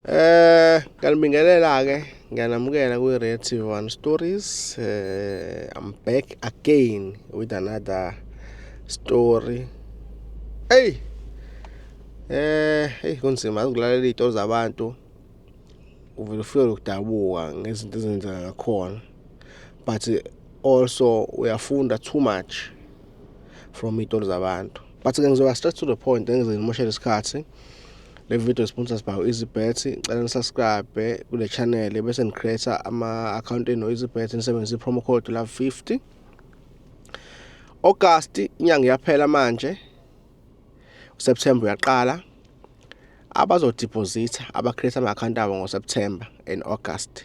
Eh ngiyanibingelela ke ngiyanamukela kwi Red TV One Stories. Eh I'm back again with another story. Hey. Eh hey kunzima ukulalela izinto zabantu. Uvela ufike ukudabuka ngezinto ezenzeka ngakhona. But also uyafunda too much from izinto zabantu. But ke ngizoba straight to the point engize ngimoshele isikhathi. Le video sponsors by EasyBet. Ngicela nisubscribe kule channel bese nicreate ama account eno EasyBet nisebenzisa promo code la 50. August inyanga iyaphela manje. September uyaqala. Abazodeposita abacreate ama account abo ngoSeptember and August.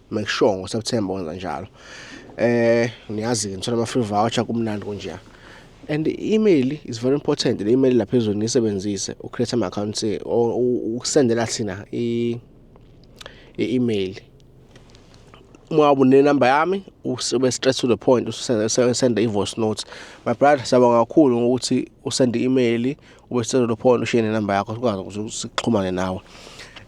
make sure ngoSeptember wenza njalo eh niyazi-ke nithola ama-free voucher kumnandi kunjeya and i-email is very important le email lapha ezweni niyisebenzise ucreate ama-accounts ukusendela thina i-email uma ubune number yami ube straight to the point usende i-voice note my brother siyabonga kakhulu ngokuthi usende i-email ube sicela lo phone ushiye nenamba yakho sikwazi ukuthi sixhumane nawe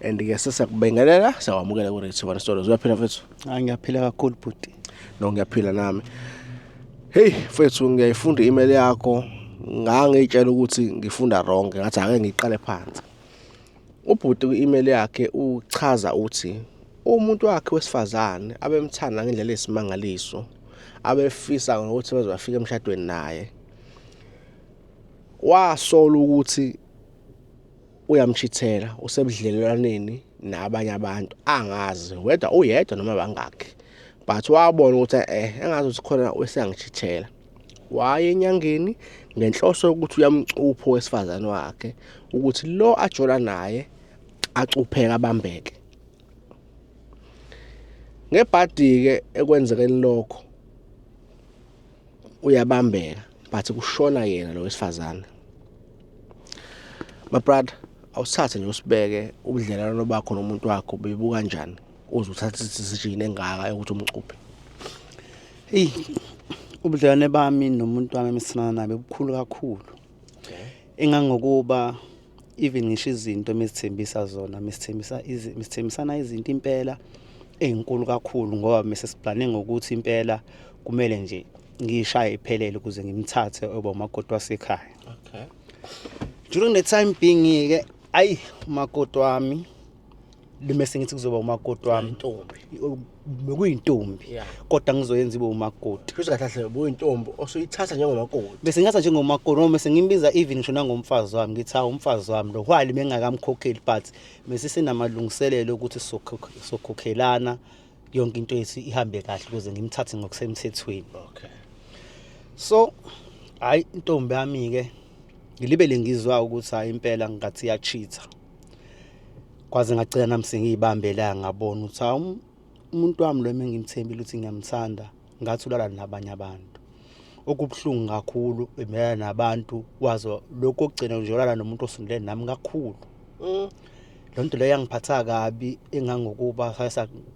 and ke sesiyakubingelela siyakwamukela ku Rich Sibana Stories uyaphila mfethu Ah ngiyaphila kakhulu bhuti. no ngiyaphila nami hey mfethu ngiyayifunda i-email yakho ngangiyitshela ukuthi ngifunda wrong ngathi ake ngiqale phansi ubhuti kwi-email yakhe uchaza uthi umuntu wakhe wesifazane abemthanda ngendlela yesimangaliso abefisa ngokuthi bazobafika emshadweni naye Wasola ukuthi uyamshithela usebudlelwaneni nabanye abantu angazi whether uyedwa noma bangakhi but wabona ukuthi eh engazi ukuthi khona useyangishithela waye enyangeni ngenhloso yokuthi uyamcupha owesifazane wakhe ukuthi lo ajola naye acupheka abambeke ngebhadi-ke ekwenzekeni lokho uyabambeka but kushona yena lo wesifazane my brother awusithathe nje usibeke ubudlelwano bakho nomuntu wakho bebuka njani uze uthathe isijini engaka yokuthi umcuphe eyi ubudlelwane bami nomuntu wami emesinana nabe bukhulu kakhulu engangokuba even ngisho izinto mesithembisa zona mesithembisa mesithembisana izinto impela ezinkulu kakhulu ngoba mese siplane ngokuthi impela kumele nje ngishaye iphelele ukuze ngimthathe oba umakoti wasekhaya okay during the time being ke ayi umakoti wami lume sengithi kuzoba umakoti wami intombi bekuyintombi Yeah. kodwa ngizoyenza ibe umakoti futhi kahle kahle buyintombi osuyithatha njengomakoti bese ngingatha njengomakoti noma bese ngimbiza even ngisho nangomfazi wami ngithi hawu umfazi wami lo whali bengakamkhokheli but bese sinamalungiselelo okuthi sokhokh- sokhokhelana yonke into yethu ihambe kahle ukuze ngimthathe ngokusemthethweni okay so hayi intombi yami-ke ngilibele ngizwa ukuthi hayi impela ngathi iyachitha kwaze ngagcina nami sengiyibambe la ngabona ukuthi hawu umuntu wami lo engimthembile ukuthi ngiyamthanda ngathi ulala nabanye abantu okubuhlungu kakhulu umelana nabantu wazo lokho okugcina nje ulala nomuntu osondele nami kakhulu mm. loo nto leyo yangiphatha kabi engangokuba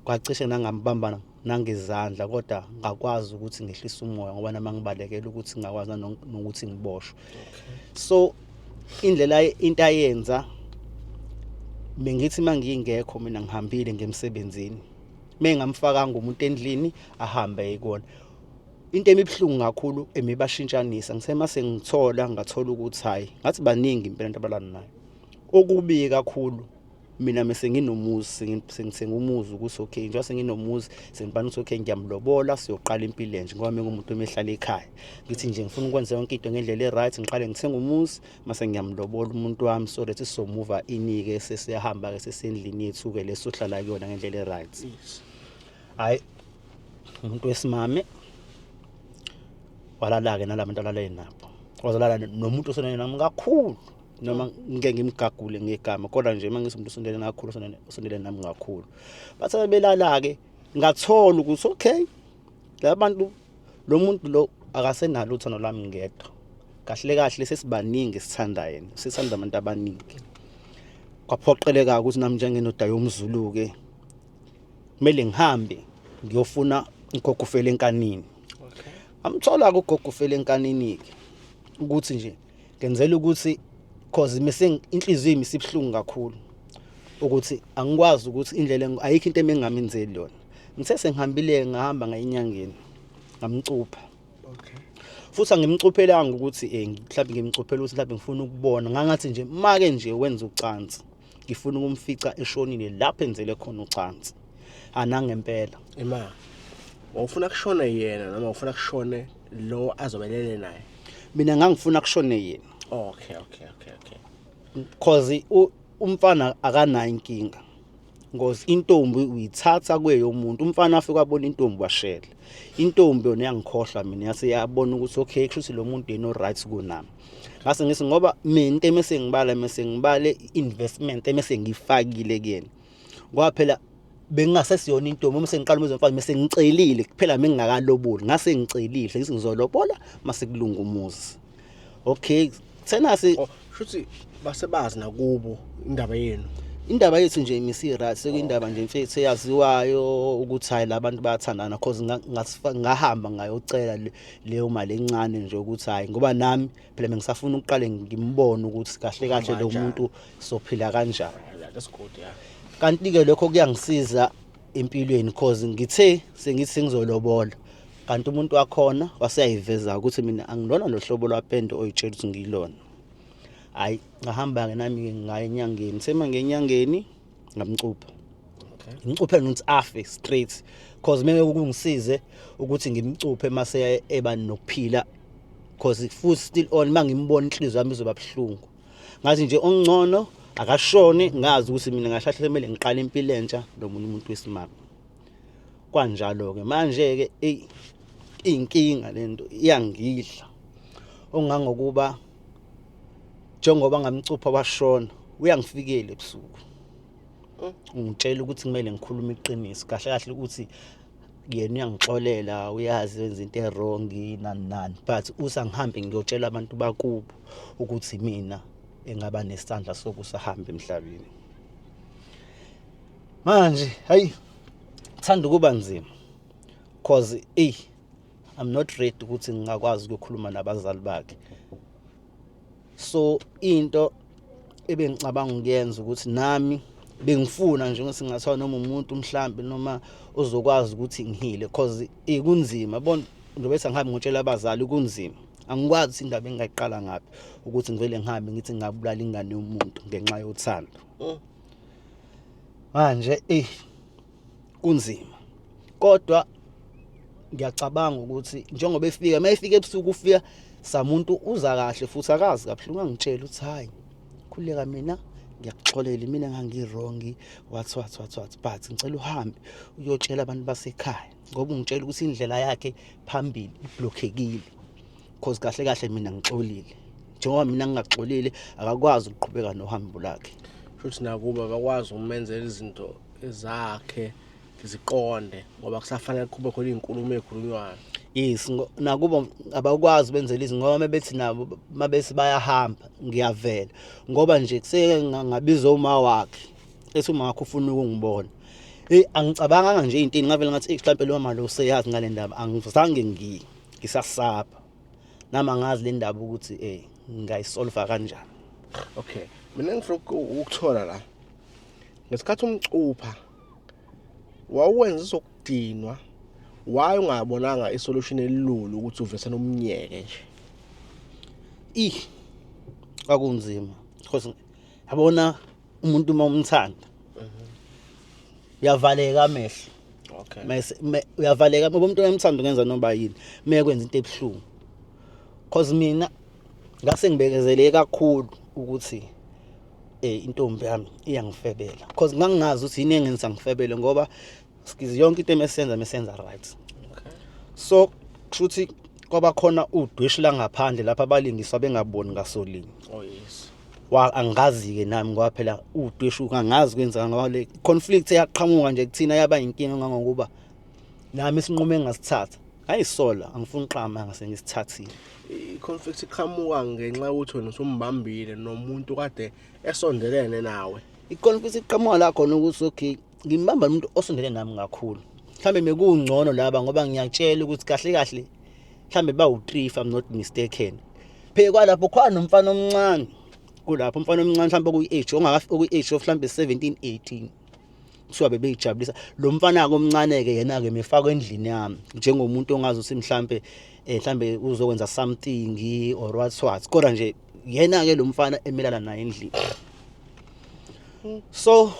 kwacishe nangambambana nangezandla kodwa ngakwazi ukuthi ngehlise umoya ngoba nama ngibalekela ukuthi ngakwazi nokuthi ngiboshwe so indlela into ayenza bengithi mangingekho mina ngihambile ngemsebenzini mengamfakanga umuntu endlini ahambe yikona into emibhlungu kakhulu emibashintshanisa ngithe mase ngithola ngathola ukuthi hayi ngathi baningi impela abantu abalana nayo okubi kakhulu mina mese nginomuzi sengithenga umuzi ukuthi okay njengoba senginomuzi sengibani ukuthi okay ngiyamlobola siyoqala impilo enje ngoba mengumuntu omehlala ekhaya ngithi nje ngifuna ukwenza yonke into ngendlela e-right ngiqale ngithenga umuzi mase ngiyamlobola umuntu wami so that sizomuva inike sesiyahamba-ke sesendlini yethu-ke le sohlala kuyona ngendlela e-right hhayi umuntu wesimame walala-ke nala bantu alale nabo wazalala nomuntu osenayena kakhulu noma ngike ngimgagule ngegama kodwa nje uma ngisomuntu usondele ngakhulu usondele nami ngakhulu bathe belala-ke ngathola ukuthi okay laba bantu lo muntu lo akasenalo uthando lwami ngedwa kahle kahle sesibaningi esithanda yena sithanda abantu abaningi kwaphoqeleka ukuthi nami njengenoda yomzulu-ke kumele ngihambe ngiyofuna ugogo ufele enkanini amthola-ke ugogo ufele enkanini-ke ukuthi nje ngenzela ukuthi cause missing inhliziyo imi sibuhlungu kakhulu ukuthi angikwazi ukuthi indlela ayikho into emengamenzeli yona ngithe sengihambile ngahamba ngayinyangeni ngamcupha okay futhi angimcuphelanga ukuthi eh mhlawumbe ngimcuphela ukuthi mhlawumbe ngifuna ukubona ngangathi nje make nje wenza ucansi ngifuna ukumfica eshonile lapho enzele khona ucansi anangempela ema wawufuna kushone yena noma ufuna kushone lo azobelele naye mina ngangifuna kushone yena okay okay okay okay because umfana akanayo inkinga ngozi intombi uyithatha kweyo umuntu umfana afike abona intombi washela intombi yona yangikhohlwa mina yase yabona ukuthi okay kusho ukuthi lo muntu yena oright kunami ngase ngithi ngoba mina into emesengibala mesengibale investment emesengifakile kuyena kwaphela bengingasesiyona intombi uma sengiqala umuzwa mfana mase ngicelile kuphela mengingakaloboli ngase ngicelile sengithi ngizolobola mase kulunga umuzi okay thena si oh, shuthi basebazi nakubo indaba yenu indaba yethu nje imisi right sekuyindaba nje mfethu eyaziwayo ukuthi hayi labantu bayathandana cause ngahamba ngayocela leyo mali encane nje ukuthi hayi ngoba nami phela bengisafuna ukuqale ngimbone ukuthi kahle kahle lo muntu sophila kanjani kanti ke lokho kuyangisiza empilweni cause ngithe sengithi sengizolobola kanti umuntu wakhona waseyayiveza ukuthi mina angilona lo hlobo lwapende oyitshela ukuthi ngilona hayi ngahamba-ke nami-ke ngaye enyangeni sema ngenyangeni ngamcupha ngimcuphele nokuthi afe straight cause meke kungisize ukuthi ngimcuphe mase eba nokuphila cause futhi still on mangimbona inhliziyo yami izoba buhlungu ngathi nje ongcono akashoni ngazi ukuthi mina ngahlahle kumele ngiqale impilo entsha nomunye umuntu wesimama kwanjalo ke manje ke inkinga lento iyangidla ongangokuba njengoba ngamcupha washona uyangifikela ebusuku mm. ungitshela ukuthi kumele ngikhulume iqiniso kahle kahle ukuthi yena uyangixolela uyazi wenza into erong nani nani but usangihambe ngiyotshela abantu bakubo ukuthi mina engaba nesandla sokusahamba emhlabeni manje hayi thanda ukuba nzima cause ey i'm not ready ukuthi ngingakwazi ukukhuluma nabazali bakhe so into ebengicabanga ukuyenza ukuthi nami bengifuna nje ukuthi ngathiwa noma umuntu mhlambi noma uzokwazi ukuthi ngihile cause ikunzima bona njengoba ethi angihambi ngotshela abazali kunzima angikwazi ukuthi indaba engingayiqala ngaphi ukuthi ngivele ngihambe ngithi ngingabulala ingane yomuntu ngenxa yothando mm. manje eyi kunzima kodwa ngiyacabanga ukuthi njengoba efika uma efika ebusuku ufika samuntu uza kahle futhi akazi kabuhlungu angitshela ukuthi hhayi khuleka mina ngiyakuxolela imina ngangirongi wathi wathi wathi wathi but ngicela uhambe uyotshela abantu basekhaya ngoba ungitshela ukuthi indlela yakhe phambili iblokhekile cause kahle kahle mina ngixolile njengoba mina ngingaxolile akakwazi ukuqhubeka nohambo lakhe futhi nakuba bakwazi ukumenzela izinto zakhe ziqonde ngoba kusafanele kube khona izinkulumo ezikhulunywayo yes nakubo abakwazi benzela izinto ngoba mabethi nabo mabesi bayahamba ngiyavela ngoba nje kuseke ngabiza uma wakhe ethi uma wakhe ufuna ukungibona hey angicabanganga nje into ngavela ngathi mhlambe lo mali useyazi ngale ndaba angizange ngi ngisasaba nami angazi le ndaba ukuthi eh ngayisolva kanjani okay mina ngifuna ukuthola la ngesikhathi umcupha wawuwenza izokudinwa waye ungabonanga isolution elilula ukuthi uvese nomnyeke nje ih kwakunzima because yabona umuntu uma umthanda uyavaleka amehlo okay mase uyavaleka ngoba umuntu oyamthanda ungenza noba yini mekwenza into ebuhlungu cause mina ngase ngibekezele kakhulu ukuthi eh intombi yami iyangifebela because ngangingazi ukuthi yini engenza ngifebele ngoba sikizi yonke into emesenza mesenza right okay. so kushuthi kwaba khona udwishi langaphandle lapha abalingiswa bengaboni ngasolini oh yes wa angazi ke nami ngoba phela udwishi ungangazi kwenzeka ngoba le conflict eyaqhamuka nje kuthina yaba inkinga ngangokuba nami sinqume ngasithatha ayisola angifuni qama ngase ngisithathile i-conflict iqhamuka ngenxa yokuthi wena usumbambile nomuntu kade esondelene nawe i-conflict iqhamuka la khona ukuthi okay ngimbamba nomuntu osondele nami kakhulu mhlawumbe mekungcono laba ngoba ngiyakutshela ukuthi kahle kahle mhlawumbe bawu-three if i'm not mistaken pheke kwalapho khona nomfana omncane kulapho umfana omncane mhlawumbe okuyi-age okuyi-age of mhlawumbe 17 18 kuthiwa bebeyijabulisa lo mfana-ke omncane-ke yena-ke mefakwa endlini yami njengomuntu ongazi ukuthi mhlampe um mhlambe uzokwenza something or what what kodwa nje yena-ke lo mfana emelana naye endlini so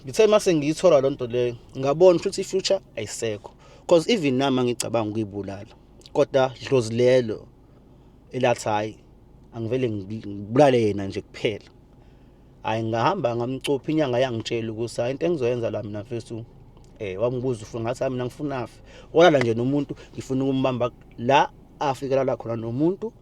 ngithe uma sengiyithola loo nto leyo ngabona ukuthi i-future ayisekho because even nami angicabanga ukuyibulala kodwa dlozi lelo elathi hhayi angivele ngibulale yena nje kuphela hayi ngahamba ngamcupha inyanga yangitshela ukuthi hayi into engizoyenza la mina mfethu um eh, wambuza ufuna ngathi hayi mina ngifuna afe walala nje nomuntu ngifuna ukumbamba la afikelala khona nomuntu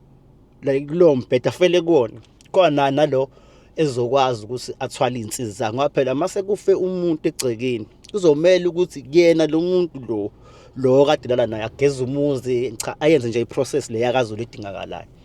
like kulowo mbheda afele kuwona khona nalo ezokwazi ukuthi athwale iy'nsizi zakhe ngoba phela uma sekufe umuntu egcekeni kuzomele ukuthi kuyena lo muntu lo lo kade lala naye ageze umuzi cha ayenze nje i-process le yakazulu edingakalayo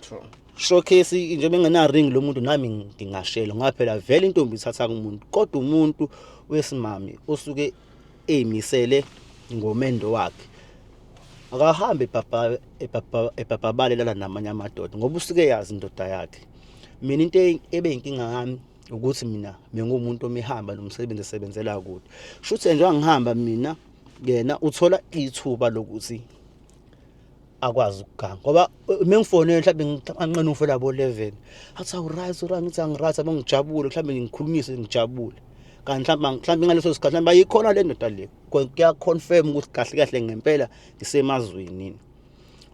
true showcase nje bengena ring lo muntu nami ngingashelo ngaphela vele intombi ithatha kumuntu kodwa umuntu wesimami osuke emisele ngomendo wakhe akahambe ebhabha ebhabha ebhabhabale lala namanye amadoda ngoba usuke yazi indoda yakhe mina into e- ebe inkinga yami ukuthi mina bengumuntu omihamba nomsebenzi esebenzela kude shuthi njengoba ngihamba mina yena uthola ithuba lokuthi akwazi ukuganga ngoba uma ngifonele mhlawumbe ngiqanqena ufela bo 11 athi awuright ura ngithi angiright abe ngijabule mhlawumbe ngikhulumise ngijabule kanti mhlawumbe mhlawumbe ngaleso sikhathi mhlawumbe ayikhona le ndoda le kuyaconfirm ukuthi kahle kahle ngempela ngisemazweni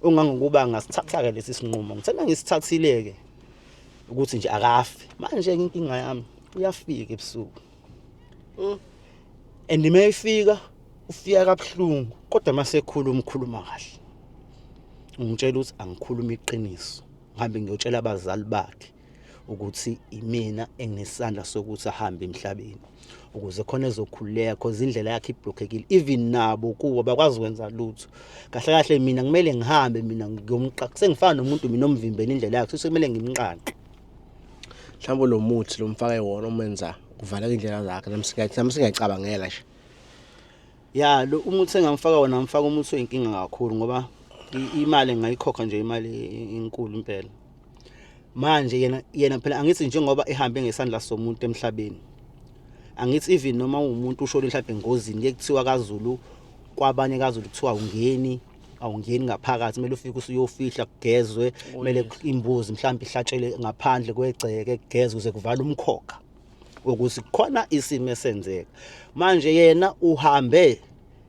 ungangokuba ngasithatha-ke lesi sinqumo ngithanda ngisithathile-ke ukuthi nje akafi manje-ke inkinga yami uyafika ebusuku Mm. And uma efika ufika kabuhlungu kodwa uma sekhuluma ukhuluma kahle. Ungitshela ukuthi angikhuluma iqiniso. Ngihambe ngiyotshela abazali bakhe ukuthi imina enginesandla sokuthi ahambe emhlabeni ukuze khona ezokhululeka cause indlela yakhe iblockekile even nabo kuwo bakwazi ukwenza lutho kahle kahle mina kumele ngihambe mina ngiyomqaqa sengifana nomuntu mina omvimbela indlela yakhe sekumele ngimqaqe mhlawumbe lo muthi lo mfake wona umenza kuvaleka indlela zakhe nami singayicabangela nje ya lo umuthi engamfaka wona ngifaka umuthi oyinkinga kakhulu ngoba imali engayikhokha nje imali enkulu impela manje yena yena phela angithi njengoba ehambe ngesandla somuntu emhlabeni angithi even noma umuntu ushona mhlawumbe engozini kekuthiwa kaZulu kwabanye kaZulu kuthiwa ungeni awungeni ngaphakathi kumele ufike usuyofihla kugezwe oh, kumele imbuzi mhlawumbe ihlatshelwe ngaphandle kwegceke kugezwe kuze kuvala umkhokha ukuthi khona isimo esenzeka manje yena uhambe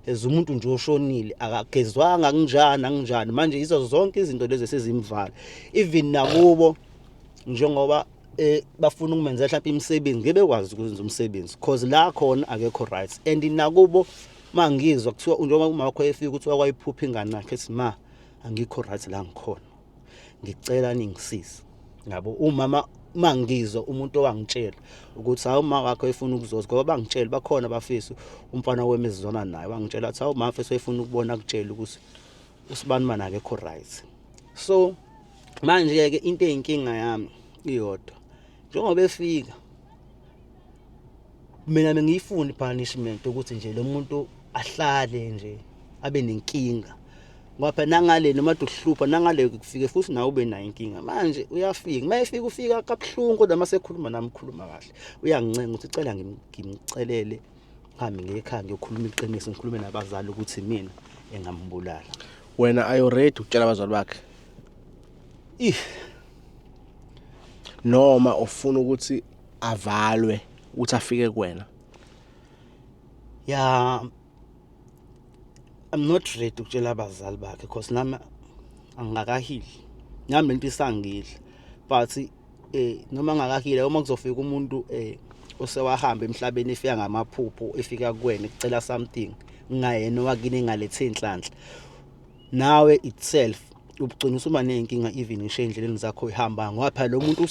as umuntu nje oshonile akagezwanga kunjani anginjani manje yizo zonke izinto lezi esizimvala even nakubo njengoba eh bafuna ukumenzela mhlawumbe imisebenzi ngeke bekwazi ukwenza umsebenzi because la khona akekho right and nakubo Uma ngizwa kuthiwa njengoba umama wakho efika ukuthi wakwayiphupha ingane yakhe ethi ma angikho right la ngikhona. Ngicela ningisize. Ngabo umama uma ngizwa umuntu owangitshela ukuthi hawu uma wakho efuna ukuzoza ngoba bangitshela bakhona abafisi umfana wami ezizona naye wangitshela ukuthi hawu mafe soyifuna ukubona kutshela ukuthi usibani mana akekho right so manje ke into eyinkinga yami iyodwa njengoba efika mina bengiyifuna i-punishment ukuthi nje lo muntu ahlale nje abe nenkinga ngoba phela nangale noma duhlupha nangale kufike futhi nawe ube nayo inkinga manje uyafika uma efika ufika kabuhlungu kodwa uma sekhuluma nami ukhuluma kahle uyangincenga ukuthi ucela ngimcelele ngihambe ngekhaya ngiyokhuluma iqiniso ngikhulume nabazali ukuthi mina engambulala wena are you ready ukutshela abazali bakhe ih noma ufuna ukuthi avalwe ukuthi afike kuwena ya I'm not ready ukutshela abazali bakhe because nami angikakahili nami lento isangile but eh noma ngakahile uma kuzofika umuntu eh osewahamba emhlabeni efika ngamaphupho efika kuwena ecela something ngayena wakini ngalethe inhlanhla nawe itself ubugcina usuba ney'nkinga even ngisho ey'ndleleni zakho uyihamba ngoba phela lo muntu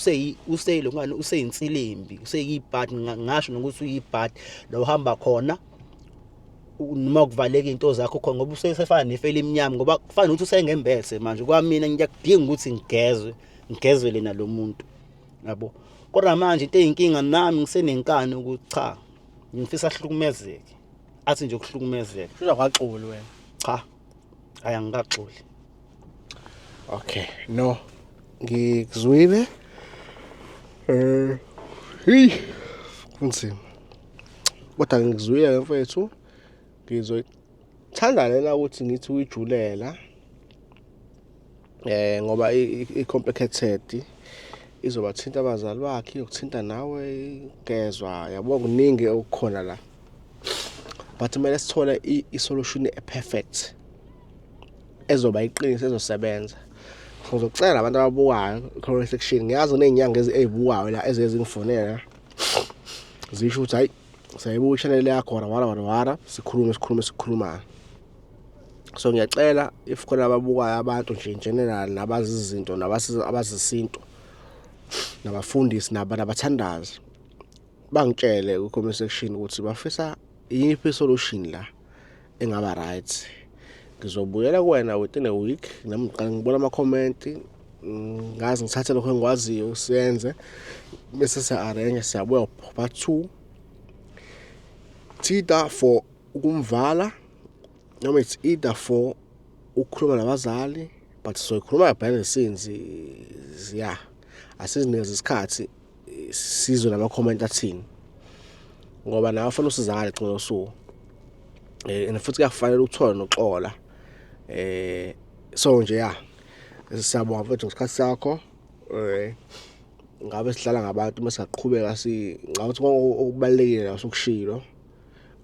useyilo ngani useyinsilimbi useyiyibhadi ngasho nokuthi uyibhadi la uhamba khona noma kuvaleka into zakho khona ngoba usesefana nefeli emnyama ngoba kufanele ukuthi usengembese manje kwamina ngiyakudinga ukuthi ngigezwe ngigezwe lena lo muntu yabo kodwa manje into eyinkinga nami ngisenenkani ukuthi cha ngifisa ahlukumezeke athi nje ukuhlukumezeka kusho kwaxulu wena cha hhayi angikaxoli okay no ngikuzwile eh hey kunzima kodwa ngikuzwile ke mfethu ngizoyithanda lena ukuthi ngithi uyijulela eh ngoba i-complicated izobathinta abazali bakhe yokuthinta nawe ngezwa yabo kuningi okukhona la but kumele sithole i-solution e-perfect ezoba iqiniso ezosebenza ngizocela abantu ababukayo comment section ngiyazi kuney'nyanga ey'bukayo la ezeye zingifonela zisho ukuthi hhayi sayibuka ishanele yakho wara wara wara wara sikhulume sikhulume sikhulumayo so ngiyacela if khona ababukayo abantu nje in general nabazi izinto nabazi isintu nabafundisi naba nabathandazi bangitshele ku comment section ukuthi bafisa iyiphi solution la engaba right ngizobuyela kuwena within a week nami ngiqala ngibona ama comment ngazi ngithathe lokho engikwaziyo siyenze bese siya arrange siyabuya part 2 thitha for ukumvala noma it's either for ukukhuluma nabazali but soyikhuluma behind the scenes ya asizinikeza isikhathi sizwe nama-comment athini ngoba nawe fanele usizakale gcina usuku eh, and futhi kuyakufanele uthole noxola eh so nje ya siyabonga mfethu ngesikhathi sakho eh ngabe sihlala ngabantu uma singaqhubeka si ngawuthi okubalekile la sokushilo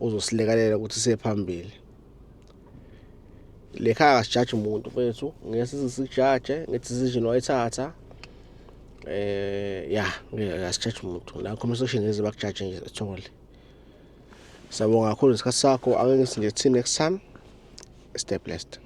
uzosilekelela ukuthi siye phambili le khaya kasijaji umuntu mfethu ngeke size sijaje nge-decision wayithatha eh ya asijaji umuntu la comment section ngeze bakujaje nje ethole siyabonga kakhulu isikhathi sakho angeke ngithi nje till next time stay blessed